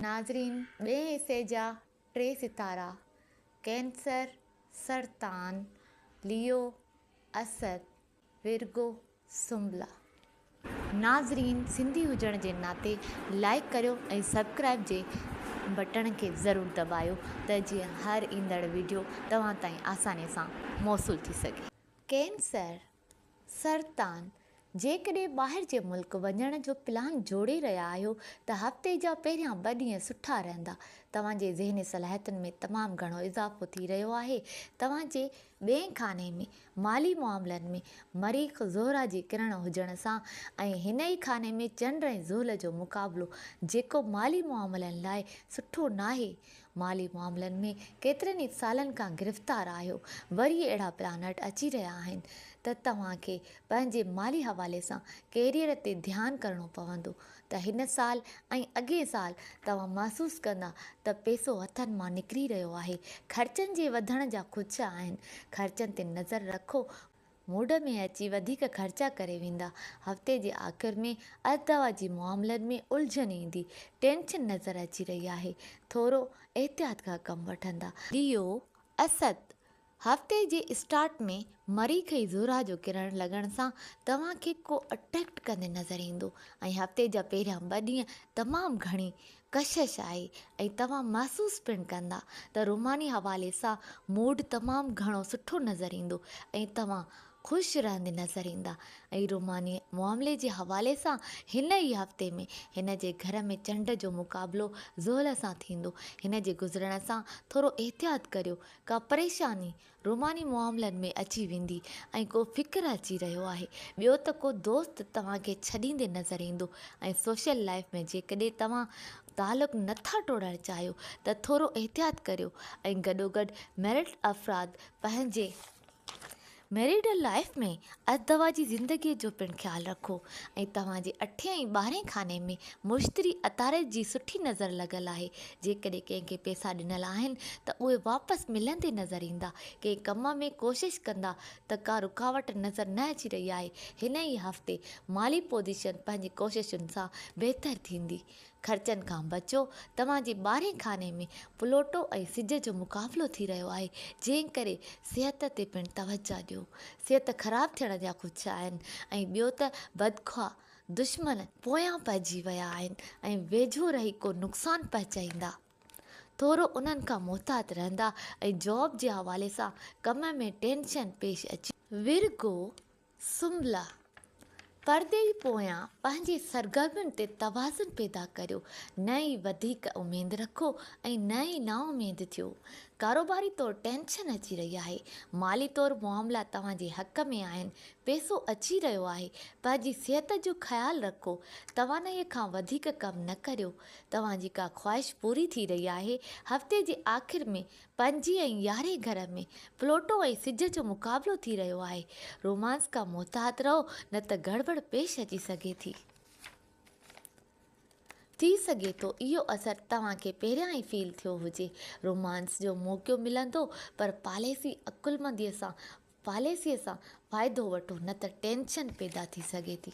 ناظرين ٻئي حصي جا ٽي ستارا ڪينسر، سرطان، ليو، اسد، ورگو، سنبلا. ناظرين سنڌي هجڻ جي ناتي لائيڪ ڪريو ۽ سبڪرائيب جي بٽڻ کي ضرور دٻايو ته جيئن هر ايندڙ ويڊيو توهان تائين آساني سان موصول ٿي سگهي. ڪينسر سرطان، جيڪڏهن ٻاهر جي ملڪ وڃڻ جو پلان جوڙي رهيا آهيو ته هفتي جا پهريان ٻه ڏينهن سٺا رهندا. توهان جي ذهني صلاحيتن ۾ تمام گهڻو اضافو ٿي رهيو آهي. توهان جي ٻئين خاني ۾ مالي معاملن ۾ مريخ زهره جي ڪرڻ هجڻ سان ۽ هن ئي خاني ۾ چنڊ ۽ زحل جو مقابلو جيڪو مالي معاملن لاء سٺو ناهي مالي معاملن ۾ ڪيترن ئي سالن کان گرفتار آهيو، وري اهڙا پلانٽ اچي رهيا آهن ته توهان کي پنهنجي مالي حوالي سان ڪيريئر تي ڌيان ڪرڻو پوندو ته هن سال ۽ اڳئين سال توهان محسوس ڪندا ته پيسو هٿن مان نڪري رهيو آهي، خرچن جي وڌڻ جا خدشا آهن، خرچن تي نظر رکو، موڊ ۾ اچي وڌيڪ خرچا ڪري ويندا. هفتي جي آخر ۾ ارتدوا جي معاملن ۾ الجهن ايندي، ٽينشن نظر اچي رهي آهي، ٿورو احتياط کان ڪم وٺندا. ليو، اسد، هفتي جي اسٽارٽ ۾ مريخ ۽ زحرا جو ڪرڻ لڳڻ سان توهان کي ڪو اٽريڪٽ ڪندي نظر ايندو ۽ هفتي جا پهريان ٻه ڏينهن تمام گهڻي ڪشش آهي ۽ توهان محسوس پڻ ڪندا ته روماني حوالي سان موڊ تمام گهڻو سٺو نظر ايندو ۽ توهان خوش رهندي نظر ايندا ۽ روماني معاملي جي حوالي سان هن ئي هفتي ۾ هن جي گهر ۾ چنڊ جو مقابلو زحل سان ٿيندو هن جي گذرڻ سان ٿورو احتياط ڪريو ڪا پريشاني روماني معاملن ۾ اچي ويندي ۽ ڪو فڪر اچي رهيو آهي ٻيو ته ڪو دوست توهان کي ڇڏيندي نظر ايندو ۽ سوشل لائيف ۾ جيڪڏهن توهان تعلق نه ٿا ٽوڙڻ چاهيو ته ٿورو احتياط ڪريو ۽ گڏوگڏ ميرڊ افراد پنهنجي ميرڊ لائيف ۾ اھي توھان جي زندگيء جو پڻ خيال رکو ۽ توھان جي اٺين ۽ ٻارھين خاني ۾ مشتري عطارد جي سٺي نظر لڳل آھي، جيڪڏھن ڪنھن کي پيسا ڏنل آھن ته اھي واپس ملندي نظر ايندا، ڪنھن ڪم ۾ ڪوشش ڪندا ته ڪا رڪاوٽ نظر نه اچي رھي آھي، ھن ئي ھفتي مالي پوزيشن پنھنجي ڪوششن سان بھتر ٿيندي، خرچن کان بچو، توهان جي ٻارهين خاني ۾ پلوٽو ۽ سج جو مقابلو ٿي رهيو آهي، جنهن ڪري صحت تي پڻ توجهه ڏيو. صحت خراب ٿيڻ جا خدشا آهن ۽ ٻيو ته بدخواه دشمن پويان پئجي ويا آهن ۽ ويجهو رهي ڪو نقصان پهچائيندا. ٿورو انهن کان محتاط رهندا ۽ جاب جي حوالي سان ڪم ۾ ٽينشن پيش اچي. ورگو، سنبلا، پرڏيهي پويان پنهنجي سرگرمين تي توازن پيدا ڪريو، نه ئي وڌيڪ اميد رکو ۽ نه ئي نااميد ٿيو. ڪاروباري طور ٽينشن اچي رهي آهي. مالي طور معاملا توهان جي حق ۾ آهن. پيسو اچي رهيو آهي. پنهنجي صحت جو خيال رکو. توانائيء کان وڌيڪ ڪم نه ڪريو. توهان جي ڪا خواهش پوري ٿي رهي آهي. هفتي جي آخر ۾ پنجين ۽ يارهين گهر ۾ پلوٽو ۽ سج جو مقابلو ٿي رهيو آهي. رومانس کان محتاط رهو نه ته گڙٻڙ پيش اچي سگهي ٿي. ٿي سگهي ٿو اهو اثر توهان کي پهريان ئي فيل ٿيو هجي. رومانس جو موقعو ملندو پر پاليسي عقلمندي سان پاليسي سان فائدو وٺو نه ته ٽينشن پيدا ٿي سگهي ٿي.